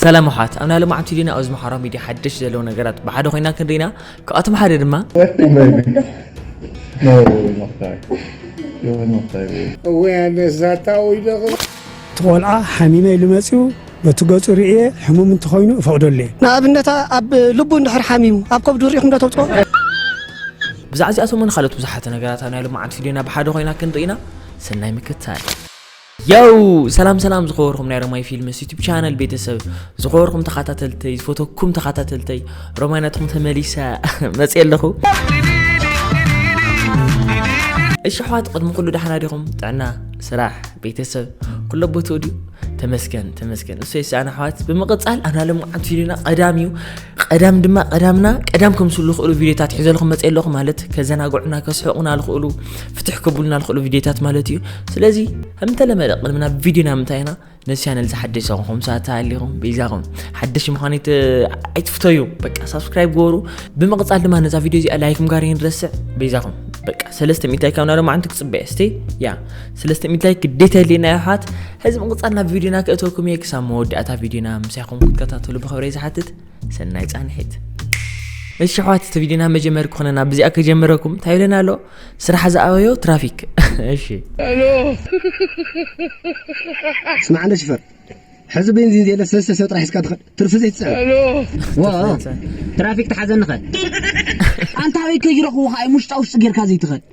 ሰላም ኣሓት ኣብና ልማዓንቲ ዲና ኣዚ ማሓራ ሚድያ ሓደሽ ዘለው ነገራት ብሓደ ኮይና ክንሪኢና ካብኣቶም ሓደ ድማ ትቆልዓ ሓሚመ ኢሉ መጺኡ በቲ ገጹ ርእየ ሕሙም እንተኾይኑ እፈቕደሉ እየ ንኣብነት ኣብ ልቡ እንድሕር ሓሚሙ ኣብ ከብዱ ርኢኹም ዶ ተውጽኦ ብዛዕዚኣቶምን ካልኦት ብዙሓት ነገራት ኣብ ናይ ሎማዓንቲ ቪድዮና ብሓደ ኮይና ክንርኢና ሰናይ ምክትታል የው ሰላም ሰላም ዝኸበርኩም ናይ ሮማይ ፊልምስ ዩቱብ ቻነል ቤተሰብ ዝኸበርኩም ተኸታተልተይ ዝፈተኩም ተኸታተልተይ ሮማይ ናትኩም ተመሊሰ መፅ ኣለኹ እሺ ኣሕዋት ቅድሚ ኩሉ ዳሕና ዲኹም ጥዕና ስራሕ ቤተሰብ ኩሎ ቦትኡ ድዩ ተመስገን ተመስገን እሰይ ሰኣን ኣሕዋት ብምቕፃል ኣናለምዓት ፊልምና ቀዳም እዩ ቐዳም ድማ ቐዳምና ቀዳም ከምስሉ ዝኽእሉ ቪድዮታት ሒዘልኹም መፀ ኣለኹ ማለት ከዘናግዑና ከስሕቑና ዝኽእሉ ፍትሕ ከብሉና ዝኽእሉ ቪድዮታት ማለት እዩ ስለዚ ከምተለመደ ቅድሚ ናብ ቪድዮና ምንታይ ኢና ነዚ ቻነል ዝሓደሽ ዝኾንኩም ሰዓት ተሃሊኹም ቤዛኹም ሓደሽ ምዃኑ ኣይትፍተዩ በቃ ሳብስክራይብ ገበሩ ብምቕፃል ድማ ነዛ ቪድዮ እዚኣ ላይክም ጋር ይንረስዕ ቤዛኹም በቃ ሰለስተ ሚእታይ ካብና ድማ ዓንቲ ክፅበየ ስቲ ያ ስለስተ ሚድላይ ግዴታ የድልየና እዩ ኣሕዋት ሕዚ ምቕፃል ናብ ቪድዮና ክእተወኩም እየ ክሳብ መወዳእታ ቪድዮና ምሳይኹም ክትከታተሉ ብኽብረይ ዝሓትት ሰናይ ፃንሒት እሺ ኣሕዋት እቲ ቪድዮና መጀመሪ ክኾነና ብዚኣ ከጀመረኩም እንታይ ኢለና ኣሎ ስራሕ ዝኣበዮ ትራፊክ እሺ ስማዕ እንደ ሽፈር ሕዚ ቤንዚን ዘየለ ሰለስተ ሰብ ጥራሕ ሒዝካ ትኸድ ትርፊ ዘይትፅዕን ትራፊክ ተሓዘኒ ኸ ኣንታ ኣበይ ከይረኽቡኻ እዮም ውሽጣ ውሽጢ ጌርካ ዘይትኸድ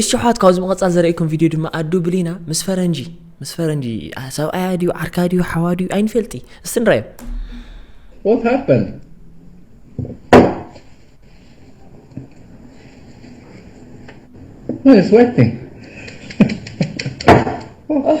እሺ ኣሕዋት ካብዚ ምቕጻል ዘርእኩም ቪድዮ ድማ ኣዱ ብሊና ምስ ፈረንጂ ምስ ፈረንጂ ሰብኣያ ድዩ ዓርካ ድዩ ሓዋ ድዩ ኣይንፈልጢ እስቲ ንራዮ What happened? Oh, it's waiting. oh.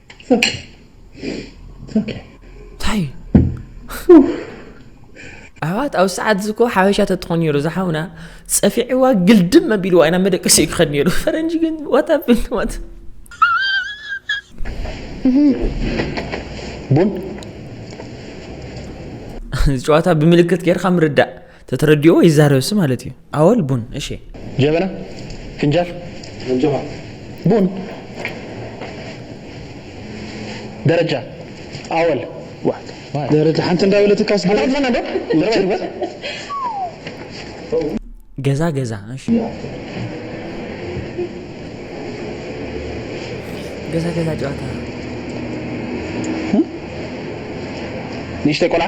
ታይ ኣሕዋት ኣብ ሰዓት እዚ እኮ ሓበሻ ተትኾን ነይሩ ዝሓውና ፀፊዕዋ ግልድም ኣቢልዋ ኢና መደቀሲ ክኸድ ነይሩ ፈረንጂ ግን ዋታብን ዋት ቡን እዚ ጨዋታ ብምልክት ጌርካ ምርዳእ ተተረዲኦ ይዛረብሲ ማለት እዩ ኣወል ቡን እሺ። ጀበና ፍንጃል ቡን ደረጃ ኣወል ደረጃ ሓንቲ እንዳበለትካስ ገዛ ገዛ እሺ ገዛ ገዛ ጨዋታ ንእሽተይ ቆልዓ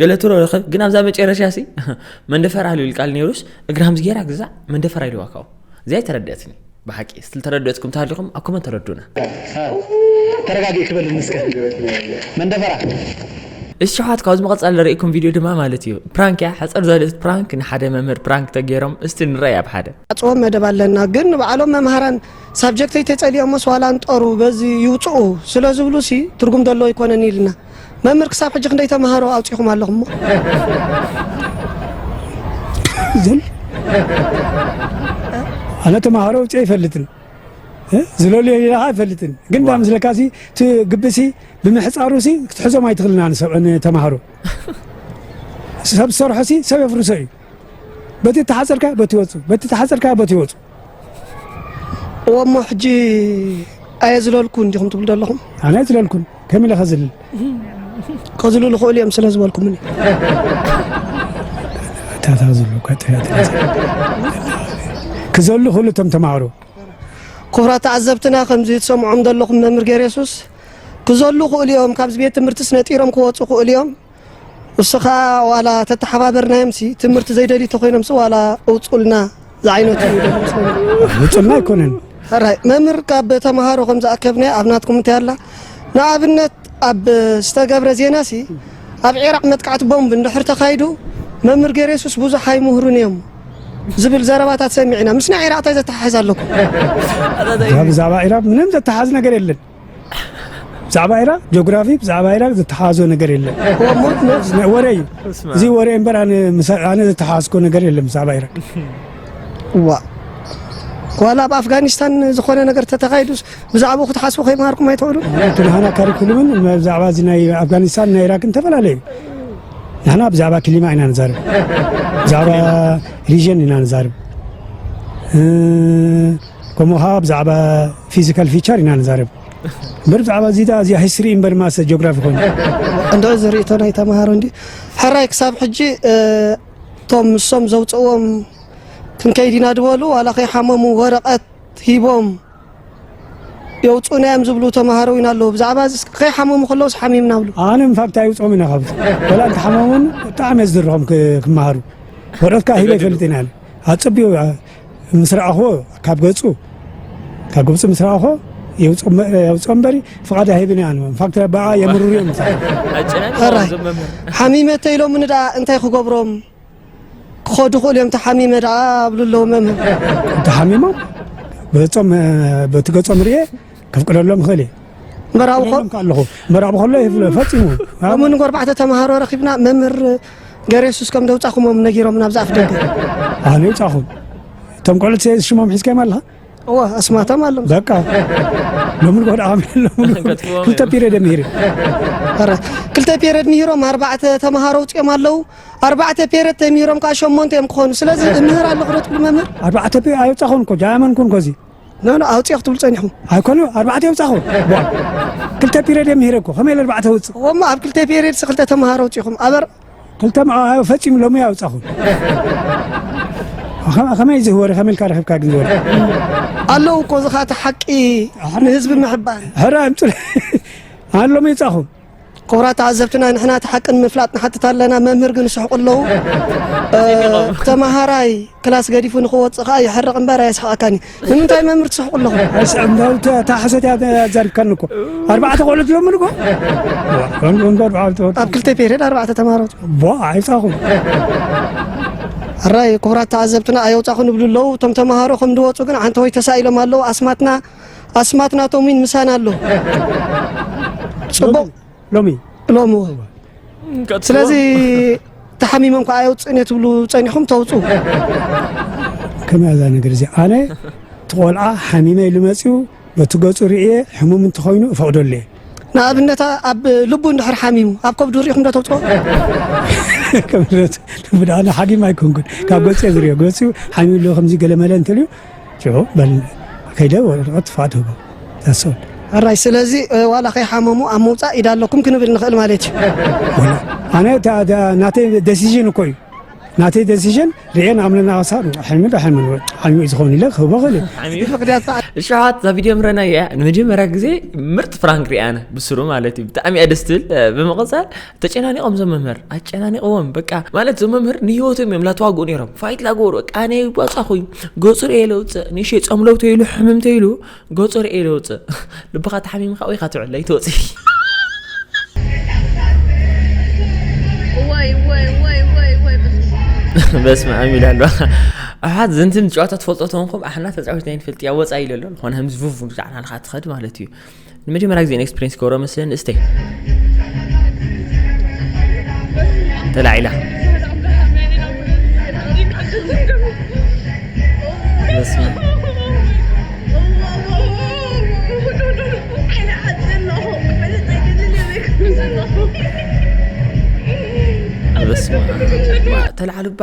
ገለ ትሮ ረኸብ ግን ኣብዛ መጨረሻ ሲ መንደፈራ ልብል ቃል ነይሩስ እግራም ዝጌራ ግዛዕ መንደፈራ ኢልዋ ካብኡ እዚኣ ተረድአትኒ ብሓቂ ዝተረድአትኩም ተሃሊኹም ኣብ ኮመንት ተረዱና ተረጋጊ ክበል ንስከ መንደፈራ እሺ ሸውሓት ካብዚ መቐፃል ዝርእኩም ቪድዮ ድማ ማለት እዩ ፕራንክ እያ ሕፀር ዘልእት ፕራንክ ንሓደ መምህር ፕራንክ ተገይሮም እስቲ ንረይ ኣብ ሓደ ኣፅዎ መደብ ኣለና ግን ንባዕሎም መምሃራን ሳብጀክተይ ተፀሊኦሞስ ዋላ ንጠሩ በዚ ይውፅኡ ስለ ዝብሉ ሲ ትርጉም ደሎ ኣይኮነን ኢልና መምህር ክሳብ ሕጂ ክንደይ ተማሃሮ ኣውጺኹም ኣለኹም እሞ ዝም ኣነ ተማሃሮ ውፅእ ኣይፈልጥን ዝለልዮ ሌላ ከዓ ኣይፈልጥን ግን ዳ ምስለካ ሲ እቲ ግብሲ ብምሕፃሩ ሲ ክትሕዞም ኣይትኽእልና ንተማሃሮ ሰብ ዝሰርሖ ሲ ሰብ የፍርሶ እዩ በቲ ተሓፀርካ በቲ ይወፁ በቲ ተሓፀርካ በቲ ይወፁ እዎ እሞ ሕጂ ኣየዝለልኩን ዲኹም ትብሉ ዘለኹም ኣነ ኣይዝለልኩን ከም ኢለ ከዝልል ከዝሉ ዝኽእሉ እዮም ስለ ዝበልኩምኒ ታታ ዝሉ ክዘሉ ክሉ እቶም ተማሃሮ ኩብራ ተዓዘብትና ከምዚ ትሰምዖም ዘለኹም መምህር ገሬሱስ ክዘሉ ክእሉ እዮም ካብዚ ቤት ትምህርትስ ነጢሮም ክወፁ ክእሉ እዮም ንስኻ ዋላ ተተሓባበርናዮምሲ ትምህርቲ ዘይደልዩ ተኾይኖምሲ ዋላ እውፁልና ዝዓይነቱ እዩ ውፅልና ኣይኮነን ሕራይ መምህር ካብ ተምሃሮ ከም ዝኣከብናዮ ኣብ ናትኩም እንታይ ኣላ ንኣብነት ኣብ ዝተገብረ ዜና ሲ ኣብ ዒራቅ መጥቃዕቲ ቦምብ እንድሕር ተኻይዱ መምህር ገይረ የሱስ ብዙሕ ኣይምህሩን እዮም ዝብል ዘረባታት ሰሚዕና ምስ ናይ ዒራቅ እንታይ ዘተሓሕዝ ኣለኩም እዛ ብዛዕባ ኢራብ ምንም ዘተሓዝ ነገር የለን ብዛዕባ ኢራቅ ጆግራፊ ብዛዕባ ኢራቅ ዝተሓሓዞ ነገር የለን ሞት ነብስ ናይ ወረ እዩ እዚ ወረ እምበር ኣነ ምሳ- ኣነ ዝተሓሓዝኮ ነገር የለን ብዛዕባ ኢራቅ ዋ ዋላ ኣብ ኣፍጋኒስታን ዝኾነ ነገር ተተኻይዱስ ብዛዕባኡ ክትሓስቡ ከይምሃርኩም ኣይትኽእሉ እቲ ንሃና ካሪኩሉምን ብዛዕባ እዚ ናይ ኣፍጋኒስታን ናይ ኢራቅን ተፈላለዩ ንሕና ብዛዕባ ክሊማ ኢና ንዛርብ ብዛዕባ ሪዥን ኢና ንዛርብ እ፣ ከምኡ ከኣ ብዛዕባ ፊዚካል ፊቸር ኢና ንዛረብ እምበር ብዛዕባ እዚ ደኣ እዚኣ ሂስትሪ እምበር ማሰ ጂኦግራፊ ኮይኑ እንዶ እዚ ርእቶ ናይ ተማሃሮ እንዲ ሕራይ ክሳብ ሕጂ እቶም ንሶም ዘውፅእዎም ክንከይድ ኢና ድበሉ ዋላ ከይሓመሙ ወረቐት ሂቦም የውፅኡና እዮም ዝብሉ ተምሃሮ እውን ኣለዉ ብዛዕባ እዚ ከይሓመሙ ከለውስ ሓሚምና ብሉ ኣነ ንፋብታ ይውፅኦም ኢና ካብዚ ወላ እንተሓመሙን ብጣዕሚ እየ ዝድርኾም ክመሃሩ ወረትካ ሂበ ይፈልጥ ኢና ኣፀቢዮ ምስ ረኣኹዎ ካብ ገጹ ካብ ግብፂ ምስ ረኣኾ የውፅኦ እምበሪ ፍቓድ ኣይህብን እያ ንፋክት በኣ የምርሩ እዮም ሕራይ ሓሚመ ተኢሎምኒ ደኣ እንታይ ክገብሮም ክኸዱ ክእሉ እዮም ተሓሚመ ደኣ ኣብሉ ኣለዉ መምህር ተሓሚሞም ገጾም በቲ ገጾም ርኤ ከፍቅደሎም ይኽእል እየ መራዊ ከሎም ከለኹ መራዊ ከሎ ይፍለ ፈፂሙ ከምኡ ንግ ኣርባዕተ ተምሃሮ ረኺብና መምህር ገረ የሱስ ከም ደውፃኹሞም ነጊሮም ናብ ዝኣፍ ደገ ኣነ ይውፃኹም እቶም ቆልዑት ሽሞም ሒዝካዮም ኣለኻ እወ ኣስማቶም ኣሎም በቃ ሎሚ ንጎ ደኣ ከመሎምሉ ክልተ ፒሪየድ እዮም ሂሪ ኧረ ክልተ ፔሬድ ምሂሮም ኣርባዕተ ተምሃሮ ውፅኦም ኣለዉ ኣርባዕተ ፔሬድ ተምሂሮም ከዓ ሸሞንተ እዮም ክኾኑ ስለዚ እምህር ኣለኹ ዶ ትብሉ መምህር ኣርባዕተ ፒ ኣይወፃኹን እኮ ጃያመን ኩን ኮዚ ናና ኣውፅኦ ክትብሉ ፀኒሕኩም ኣይኮኑ ኣርባዕተ የውፃኹ ክልተ ፒሬድ እየ ምሂረ እኮ ከመይ ኢለ ኣርባዕተ ውፅእ እሞ ኣብ ክልተ ፔሬድ ክልተ ተምሃሮ ውፂኹም ኣበር ክልተ መዓዋዮ ፈፂሙ ሎሚ እያ ኣውፃኹ ከ- ከመይ እዚ ወረ ከመይ ኢልካ ረኺብካ ግን ወረ ኣለዉ እኮ እዚ ከዓ እቲ ሓቂ ንህዝቢ ምሕባር ሕረ ኣምፅእ ኣሎ ምይፃኹ ክቡራት ተዓዘብትና ንሕና እቲ ሓቂ ንምፍላጥ ንሓትት ኣለና መምህር ግን ይስሕቁ ኣለዉ ተማሃራይ ክላስ ገዲፉ ንክወፅእ ከዓ ይሕርቕ እምበር ኣየስሕቐካን እዩ ንምንታይ መምህር ትስሕቁ ኣለኹ እታ ሓሶት እያ ኣዛሪብካኒ እኮ ኣርባዕተ ቆልዑ ትለምሉ እኮ ኣብ ክልተ ፔሪድ ኣርባዕተ ተማሃሮ ቦ ኣይፃኹም ሕራይ ክቡራት ተዓዘብትና ኣየውፃኹ ንብሉ ኣለዉ እቶም ተምሃሮ ከም ድወፁ ግን ዓንተወይ ተሳኢሎም ኣለዉ ኣስማትና ኣስማት ናቶም ውን ምሳና ኣሎ ጽቡቕ ሎሚ ሎሚ ስለዚ ተሓሚሞም ከዓ የውፅእን እየ ትብሉ ፀኒኹም ተውፁ ከመይ እዛ ነገር እዚ ኣነ እቲ ቆልዓ ሓሚመ ኢሉ መፅኡ በቲ ገፁ ርእየ ሕሙም እንተኮይኑ እፈቕደሉ እየ ንኣብነት ኣብ ልቡ እንድሕር ሓሚሙ ኣብ ከብዱ ሪኢኹም ዶ ተውፅኦ ከምነት ብድኣነ ሓጊም ኣይኮንኩን ካብ ገፁ እየ ዝሪኦ ገፁ ሓሚሉ ከምዚ ገለመለ እንተልዩ ሽዑ በል ከይደ ወረቐት ትፋ ትህቦ ዛሶል። ሕራይ ስለዚ ዋላ ከይሓመሙ ኣብ ምውፃእ ኢድ ኣለኩም ክንብል ንኽእል ማለት እዩ። ኣነ ናተይ ደሲዥን እኮ እዩ ናተይ ደሲዥን ርኤን ኣምለና ክሳብ ሕልሚ ዶ ሕልሚ ዓልሚ እዩ ዝኾን ኢለ ክህቦ ክእል እሸሓት እዛ ቪድዮ ምረናያ ንመጀመርያ ግዜ ምርጥ ፍራንክ ርኣነ ብስሩ ማለት እዩ ብጣዕሚ እያ ደስ ትብል ብምቕፃል ተጨናኒቆም ዞም መምህር ኣጨናኒቆዎም በቃ ማለት ዞም መምህር ንሂወቶም እዮም ላተዋግኡ ነይሮም ፋይት ላገበሩ በቃ ኣነ ባፃኹይ ገፁ ርኤ ለውፅእ ንእሸ ፀምለው ተይሉ ሕምም ተይሉ ገፁ ርኤ ለውፅእ ልብኻ ተሓሚምካ ወይካ ትውዕል ኣይትወፅ በስመ ኣም ኢሉ ኣሎ ኣሓት ዘንትን ጨዋታ ትፈልጦ ተንኩም ኣሕና ተፃዊትና ይንፈልጥ እያ ወፃ ኢሉ ኣሎ ዝኾነ ከምዚ ቭቭ ብዛዕናልካ ትኸድ ማለት እዩ ንመጀመርያ ግዜ ኤክስፕሪንስ ክገብሮ ምስ ንእስተይ ተላዒላ ተላዓሉባ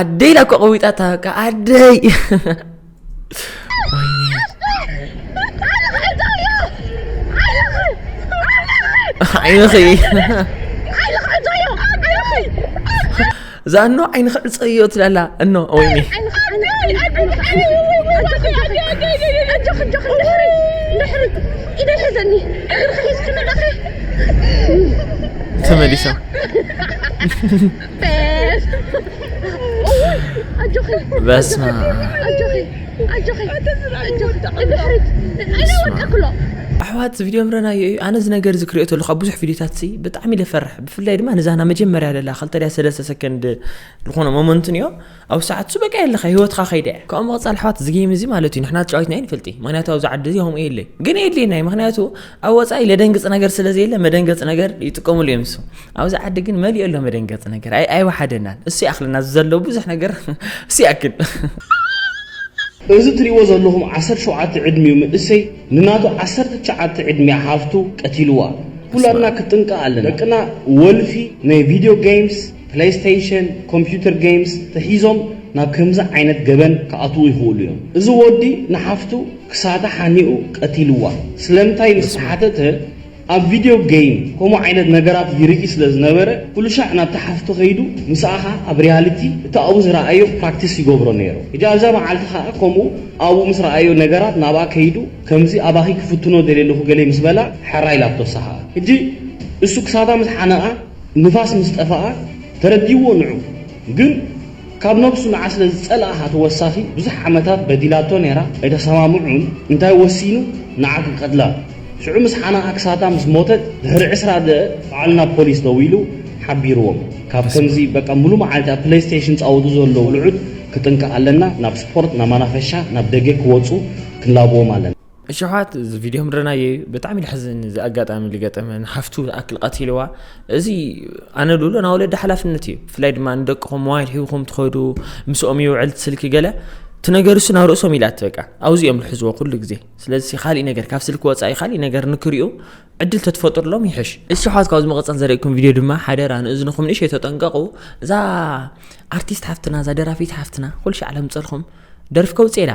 ኣደይ ኢላ እኮ ቀዊጣታ በቃ ኣደይ ዓይንኺ እዛ እኖ ዓይንኺ ዕፀ እዮ ትላላ እኖ ወይኒ ተመሊሶም በስመ ኣሕዋት እዚ ቪድዮ ምረናዮ እዩ ኣነ እዚ ነገር እዚ ክሪኦ ተለኹ ኣብ ብዙሕ ቪድዮታት ሲ ብጣዕሚ ለፈርሕ ብፍላይ ድማ ነዛ ና መጀመርያ ለላ ክልተ ድያ ሰለስተ ሰከንድ ዝኾነ ሞመንትን እዮ ኣብ ሰዓትሱ በቃ የለካ ህይወትካ ከይደ እያ ካብኡ ምቕፃል ኣሕዋት እዚ ጌም እዚ ማለት እዩ ንሕና ተጫዊትና ኣይንፈልጥ ምክንያቱ ኣብዚ ዓዲ እዚ ከምኡ የለ ግን የድልየና እዩ ምክንያቱ ኣብ ወፃኢ ለደንግፅ ነገር ስለ ዘየለ መደንገፂ ነገር ይጥቀምሉ እዮም እሱ ኣብዚ ዓዲ ግን መሊኦ ኣሎ መደንገፂ ነገር ኣይወሓደናን እሱ ይኣክለና ዘሎ ብዙሕ ነገር እሱ ይኣክል እዚ ትሪእዎ ዘለኹም ዓሰርተ ሸውዓተ ዕድሚኡ መንእሰይ ንናቱ ዓሰርተ ትሽዓተ ዕድሚያ ሓፍቱ ቀቲልዋ ኩላትና ክትጥንቀቕ ኣለና ደቅና ወልፊ ናይ ቪድዮ ገይምስ ፕለይስተይሽን፣ ኮምፒዩተር ገይምስ ተሒዞም ናብ ከምዚ ዓይነት ገበን ክኣትዉ ይኽእሉ እዮም። እዚ ወዲ ንሓፍቱ ክሳዳ ሓኒቑ ቀቲልዋ። ስለምንታይ ምስ ተሓተተ ኣብ ቪድዮ ገይም ከምኡ ዓይነት ነገራት ይርኢ ስለ ዝነበረ ኩሉሻዕ ናብታ ሓፍቱ ከይዱ ምስኣኻ ኣብ ሪያሊቲ እቲ ኣብኡ ዝረኣዮ ፕራክቲስ ይገብሮ ነይሩ። ሕጂ ኣብዛ መዓልቲ ከኣ ከምኡ ኣብኡ ምስ ረኣዮ ነገራት ናብኣ ከይዱ ከምዚ ኣባኺ ክፍትኖ ደልየ ኣለኹ ገለ ምስ በላ ሕራይ ኢላቶ እሳ ከኣ ሕጂ እሱ ክሳዳ ምስ ሓነቓ ንፋስ ምስ ጠፈኣ ተረዲእዎ ንዑ ግን ካብ ነብሱ ንዓ ስለ ዝጸልኣኻ ተወሳኺ ብዙሕ ዓመታት በዲላቶ ኔራ ኣይተሰማምዑን እንታይ ወሲኑ ንዓ ክቀትላ ሽዑ ምስ ሓነቓ ክሳታ ምስ ሞተት ድሕሪ ዕስራ ደእ ባዕሉ ናብ ፖሊስ ደዊሉ ሓቢርዎም ካብ ከምዚ በቃ ሙሉ መዓልቲ ኣብ ፕለይስተይሽን ዝጻወቱ ዘለዉ ልዑት ክጥንቀቅ ኣለና ናብ ስፖርት ናብ መናፈሻ ናብ ደገ ክወጹ ክንላብዎም ኣለና። እሽሓት እዚ ቪድዮ ምድረናዮ እዩ ብጣዕሚ ልሕዝን እዚ ኣጋጣሚ ልገጠመ ንሓፍቱ ዝኣክል ቀቲልዋ እዚ ኣነ ድብሎ ናብ ወለዲ ሓላፍነት እዩ ብፍላይ ድማ ንደቅኹም ሞባይል ሂብኹም ትኸዱ ምስኦም ይውዕል ስልኪ ገለ ትነገርሱ ናብ ርእሶም ኢላት በቃ ኣብዚ እዮም ዝሕዝዎ ኩሉ ግዜ ስለዚ ካሊእ ነገር ካብ ስልኪ ወፃኢ ካሊእ ነገር ንክሪኡ ዕድል ተትፈጥሩሎም ይሕሽ እሽሓት ካብ ዝመቐፀል ዘርእኩም ቪድዮ ድማ ሓደራ ንእዝንኹም ንእሸ ተጠንቀቑ እዛ ኣርቲስት ሓፍትና እዛ ደራፊት ሓፍትና ኩልሻዕ ለምፀልኹም ደርፊ ከውፅኤላ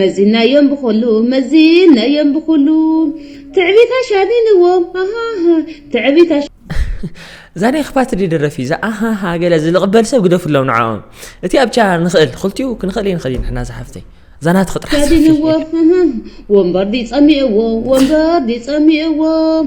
መዚናዮም ብኹሉ መዚናዮም ብኹሉ ትዕቢት ኣሻሚንዎም ኣሃሃ ትዕቢት እዛ ናይ ክፋት ዲ ደረፊ እዛ ኣሃሃ ገለ ዝልቕበል ሰብ ግደፍሎም ንዓኦም እቲ ኣብቻ ንኽእል ክልቲኡ ክንኽእል እየ ንኽእል ንሕና ዝሓፍተይ እዛ ናት ክጥራሕ ኣሻሚንዎም ወንበር ዲጸሚእዎ ወንበር ዲጸሚእዎም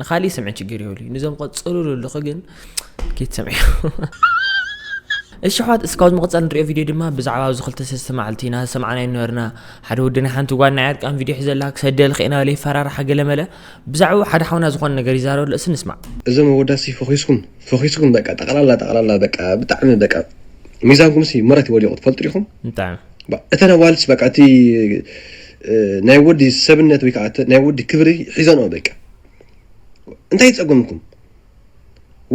ንካሊእ ስምዒ ችግር የብሉይ ንዞም ቀፅሉሉ ኣለኹ ግን ክትሰምዕዮ እሺ ኣሕዋት እስካብ ዝመቕፀል ንሪኦ ቪድዮ ድማ ብዛዕባ ኣብዚ ክልተ ሰስተ መዓልቲ ኢና ዝሰማዕናዮ ነበርና ሓደ ወዲ ናይ ሓንቲ ጓል ናይ ዕርቃን ቪድዮ ሒዘላ ክሰደል ክኢና በለ ይፈራርሓ ገለመለ ብዛዕባኡ ሓደ ሓውና ዝኾነ ነገር ይዛረበሉ እሲ ንስማዕ እዞም ኣወዳት ሲ ፈኺስኩም ፈኺስኩም በቃ ጠቕላላ ጠቕላላ በቃ ብጣዕሚ በቃ ሚዛንኩም ሲ መረት ወዲቑ ትፈልጡ ዲኹም ብጣዕሚ እተን ኣዋልድ በቃ እቲ ናይ ወዲ ሰብነት ወይ ከዓ ናይ ወዲ ክብሪ ሒዘንኦ በቃ እንታይ ይፀገምኩም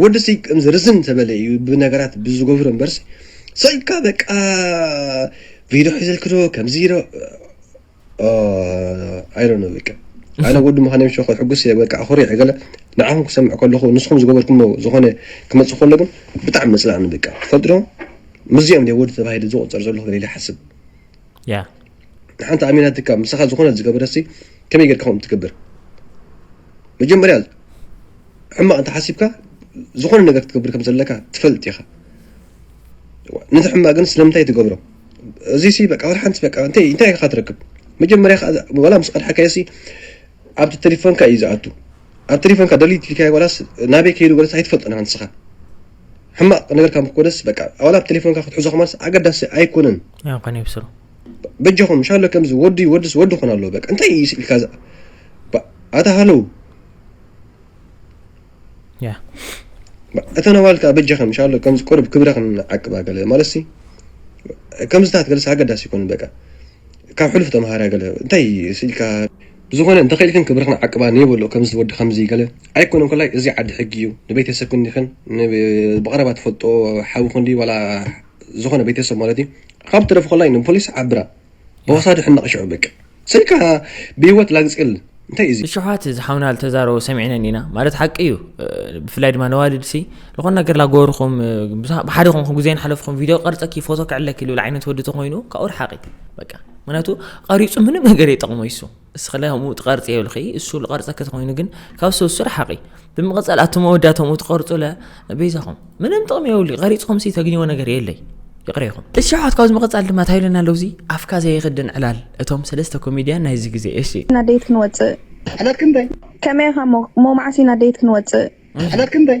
ወዲ ሲ ከምዚ ርዝን ተበለ እዩ ብነገራት ብዝገብሮ እምበርሲ ሰኢልካ በቃ ቪድዮ ሒዘልክዶ ከምዚ ዶ ኣይዶነ በቃ ኣነ ወዲ ምዃነ ምሸ ሕጉስ እየ በቃ ኣኹሪዐ ገለ ንዓኹም ክሰምዕ ከለኹ ንስኹም ዝገበርኩሞ ዝኾነ ክመፅእ ከሎ ግን ብጣዕሚ መፅላእኒ በቃ ትፈልጡ ዶ ምስዚኦም ናይ ወዲ ተባሂለ ዝቆፀር ዘለኹ ኢለ ይሓስብ ያ ንሓንቲ ኣሚናትካ ምሳኻ ዝኾነ ዝገበረሲ ከመይ ጌርካ ከምኡ ትገብር መጀመርያ ሕማቕ እንተሓሲብካ ዝኾነ ነገር ክትገብር ከም ዘለካ ትፈልጥ ኢኻ ነቲ ሕማቕ ግን ስለምንታይ ትገብሮ እዚ ሲ በቃ ወላ ሓንቲ በቃ እንታይ እንታይ ኢኻ ትረክብ መጀመርያ ወላ ምስ ቀድሓካዮ ሲ ኣብቲ ቴሌፎንካ እዩ ዝኣቱ ኣብ ቴሌፎንካ ደሊት ኢልካዮ ወላስ ናበይ ከይዱ ወላስ ኣይትፈልጦን ንስኻ ሕማቅ ነገር ካብ ኮነስ በቃ ኣዋላ ኣብ ቴሌፎንካ ክትሕዞ ከማስ ኣገዳሲ ኣይኮነን ኣይኮነ ይብስሩ በጃኹም ሻሎ ከምዚ ወዲ ወድስ ወዲ ኮን ኣለዎ በቃ እንታይ እዩ ስኢልካ ኣታ ሃለው ያ እተን ኣዋልካ በጃኸም ሻሎ ከምዚ ቅሩብ ክብረኽን ዓቅባ ገለ ማለትሲ ከምዝታት ገለስ ኣገዳሲ ይኮኑ በቃ ካብ ሕሉፍ ተምሃራ ገለ እንታይ ስኢልካ ብዝኮነ እንተ ኪኢልክን ክብርክን ዓቅባ ነይ በሎ ከምዚ ወዲ ከምዚ ገለ ኣይኮነን ኮላይ እዚ ዓዲ ሕጊ እዩ ንቤተሰብክን ዲክን ን ብቀረባ ትፈልጦ ሓውክን ድዩ ዋላ ዝኮነ ቤተሰብ ማለት እዩ ካብ ትረፍ ኮላይ ን ፖሊስ ዓብራ ብወሳዲ ሕነቅ ሽዑ በቂ ስልካ ብሂወት ላግጽል እንታይ እዚ። ንሸውሃት እዚ ሓውና ልተዛረቦ ሰሚዕነን ኢና ማለት ሓቂ እዩ ብፍላይ ድማ ነዋልድ ሲ ዝኾነ ነገር ላጎርኹም ብሓደ ኮንኩም ግዜ ንሓለፍኩም ቪድዮ ቀርጸኪ ፎቶ ክዕለኪ ልብል ዓይነት ወዲ ተኾይኑ ካብኡ ርሓቂ በቃ ምክንያቱ ቐሪፁ ምንም ነገር የጠቕሞ ይሱ እስክለ ከምኡ ትቐርፂ የብልኺ እሱ ልቐርፀ ከተኮይኑ ግን ካብ ሰሱ ርሓቒ ብምቐፀል ኣቶ መወዳቶም ትቐርፁለ ቤዛኹም ምንም ጥቕሚ የብሉ ቐሪፅኹም ሲ ተግኝዎ ነገር የለይ ይቕረ ይኹም እቲ ሸውዓት ካብዚ ምቐፃል ድማ ታይለና ኣለዉ እዚ ኣፍካ ዘየኽድን ዕላል እቶም ሰለስተ ኮሜድያን ናይዚ ግዜ እሺ ኢና ደይት ክንወፅእ ዕለት ክንደይ ከመይ ኢኻ ሞ መዓስ ኢና ደይት ክንወፅእ ዕለት ክንደይ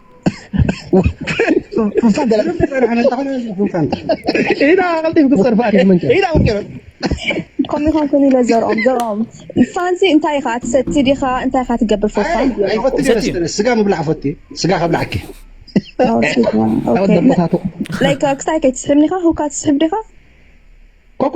ከምኡ ኢኻ ኩን ኢለ ዘርኦም ዘርኦም ፋንሲ እንታይ ኢኻ ትሰቲ ዲኻ እንታይ ኢኻ ትገብር ፎፋን ኣይፈትነ ስጋ ምብላዕ ፈት ስጋ ከብላዕኪ ላይክ ክሳይ ከይትስሕብኒ ኢኻ ሁካ ትስሕብ ዲኻ ኮኳ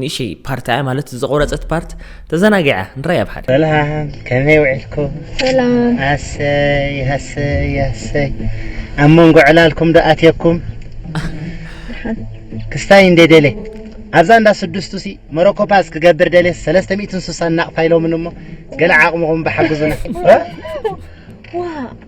ንእሽይ ፓርት ኣያ ማለት ዝቆረፀት ፓርት ተዘናጊዓ ንራይ ኣብ ሓደ ሰላም ከመይ ውዒልኩም ሰላም ኣሰይ ኣሰይ ኣሰይ ኣብ መንጎ ዕላልኩም ዶ ኣትየኩም ክስታይ እንደ ደለ ኣብዛ እንዳ ስድስቱ ሲ መሮኮፓስ ክገብር ደለ ሰለስተ ሚእትን ስሳን ናቕፋ ኢሎምን እሞ ገለ ዓቕምኹም ብሓግዙና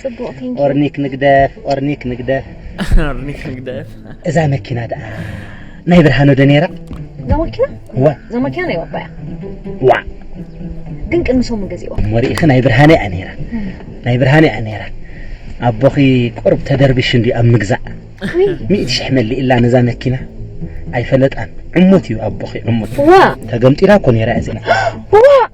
ጽቡቕ ቴንኪ ኦርኒክ ንግደፍ ኦርኒክ ንግደፍ ኣርኒክ ንግደፍ እዛ መኪና ደኣ ናይ ብርሃኑ ዶ ነይራ እዛ ማኪና ዋ እዛ ማኪና ናይ ባባ እያ ዋ ግን ቅድሚ ሰሙን ገዚእዋ እሞ ርኢኺ ናይ ብርሃነ እያ ነይራ ናይ ብርሃነ እያ ነይራ ኣቦኺ ቁርብ ተደርቢሹ እንድዩ ኣብ ምግዛእ ውይ ሚእቲ ሽሕ መሊእላ ነዛ መኪና ኣይፈለጣን ዕሙት እዩ ኣቦኺ ዕሙት ዋ ተገምጢላ እኮ ነይራ እዚኣ ዋ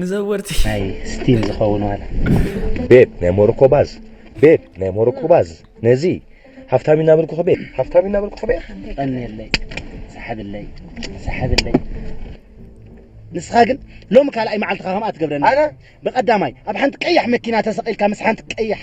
ንዘወርቲ ናይ ስቲም ዝኸውን ዋላ ቤብ ናይ ሞሮኮ ባዝ ቤብ ናይ ሞሮኮ ባዝ ነዚ ሃፍታም እናበልኩ ከበ ሃፍታም እናበልኩ ከበ ቀንየለይ ሰሓብለይ ሰሓብለይ ንስኻ ግን ሎሚ ካልኣይ መዓልትኻ ከምኣ ትገብረኒ ብቐዳማይ ኣብ ሓንቲ ቀያሕ መኪና ተሰቒልካ ምስ ሓንቲ ቀያሕ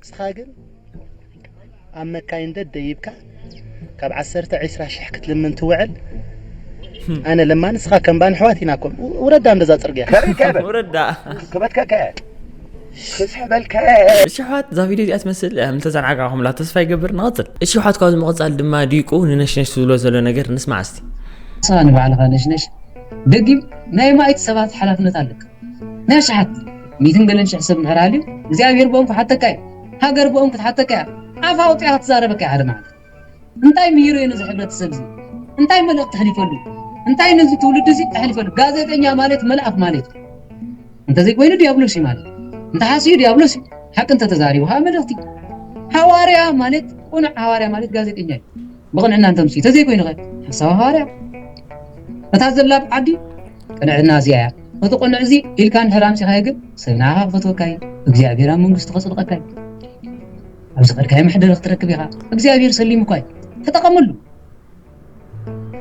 ንስኻ ግን ኣብ መካይን ደደይብካ ካብ ዓሰርተ ዒስራ ሽሕ ክትልምን ትውዕል ኣነ ለማ ንስኻ ከምባ ንሕዋት ኢና ኮም ውረዳ እንደዛ ፅርግያ ውረዳ ክበትከከ ክስሕበልከ እሺ ኣሕዋት እዛ ቪድዮ እዚኣ ትመስል እንተዘንዓጋኹምላ ተስፋ ይገብር ንቕፅል እሺ ኣሕዋት ካብዚ ምቕፃል ድማ ዲቁ ንነሽነሽ ዝብሎ ዘሎ ነገር ንስማዕ እስቲ ንስኻ ንባዕልኻ ነሽነሽ ደጊም ናይ ማይት ሰባት ሓላፍነት ኣለካ ናይ ኣሽሓት ሚትን ገለን ሽሕ ሰብ እንድሕር ሃልዩ እግዚኣብሄር ብኦም ክሓተካ እዩ። ሃገር ብኦም ክትሓተካ እያ። ኣፋ ኣውጺኣ ክትዛረበካ እያ ሓደ መዓልቲ። እንታይ ምሂሩ እየ ነዚ ሕብረተሰብ እዚ? እንታይ መልእኽቲ ኣሕሊፈሉ? እንታይ ነዚ ትውልዲ እዚ ኣሕሊፈሉ? ጋዜጠኛ ማልት መልኣኽ ማልት እዩ። እንተዘይኮይኑ ድያብሎስ እዩ ማልት እዩ። እንተሓስዩ ድያብሎስ እዩ። ሓቂ እንተተዛሪቡ ከኣ መልእኽቲ እዩ። ሃዋርያ ማልት ቅኑዕ ሃዋርያ ማልት ጋዜጠኛ እዩ። ብቕንዕና እንተምጽኡ እንተዘይኮይኑኸ ሓሳዊ ሃዋርያ እታ ዘላ ኣብ ዓዲ ቅንዕና እዚኣ እያ እቲ ቅኑዕ እዚ ኢልካ እንድሕር ኣምጺኻዮ ግን ሰብ ንዓኻ ክፈትወካ እዩ እግዚኣብሔር ኣብ መንግስቱ ከጽድቐካ እዩ ኣብ ዝኸድካዮ መሕደሪ ክትረክብ ኢኻ እግዚኣብሔር ሰሊሙኳ እዩ ተጠቐመሉ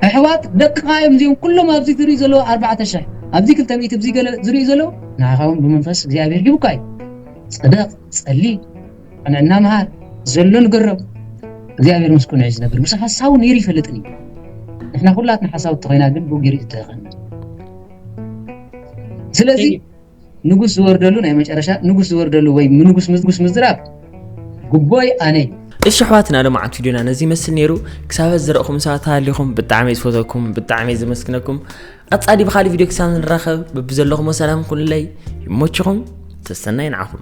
ኣሕዋት ደቅኻ እዮም እዚኦም ኩሎም ኣብዚ ዝርእዩ ዘለዉ ኣርባዕተ ሽሕ ኣብዚ ክልተ ሚእቲ እዚ ገለ ዝርእዩ ዘለዉ ንዓኻ እውን ብመንፈስ እግዚኣብሔር ሂቡካ እዩ ጽደቕ ጸሊ ኣነና መሃር ዘሎ ንገሮም እግዚኣብሔር ምስ ኩነ ዝነብር ምስ ሓሳቡ ነይሩ ይፈልጥን እዩ ንሕና ኩላትና ሓሳውቲ ኮይና ግን ብኡ ገይሩ ዝተኸነ ስለዚ ንጉስ ዝወርደሉ ናይ መጨረሻ ንጉስ ዝወርደሉ ወይ ንጉስ ንጉስ ምዝራብ ጉቦይ ኣነ እዩ እሺ ኣሕዋትና ልምዓት ቪድዮና ነዚ ይመስል ነይሩ ክሳበት ዝረእኹም ሰባት ሃሊኹም ብጣዕሚ ዝፈተኩም ብጣዕሚ ዝመስግነኩም ቀጻሊ ብካልእ ቪድዮ ክሳብ ንራኸብ በብዘለኹሞ ሰላም ኩኑለይ ይሞችኹም ተሰናይ ንዓኹም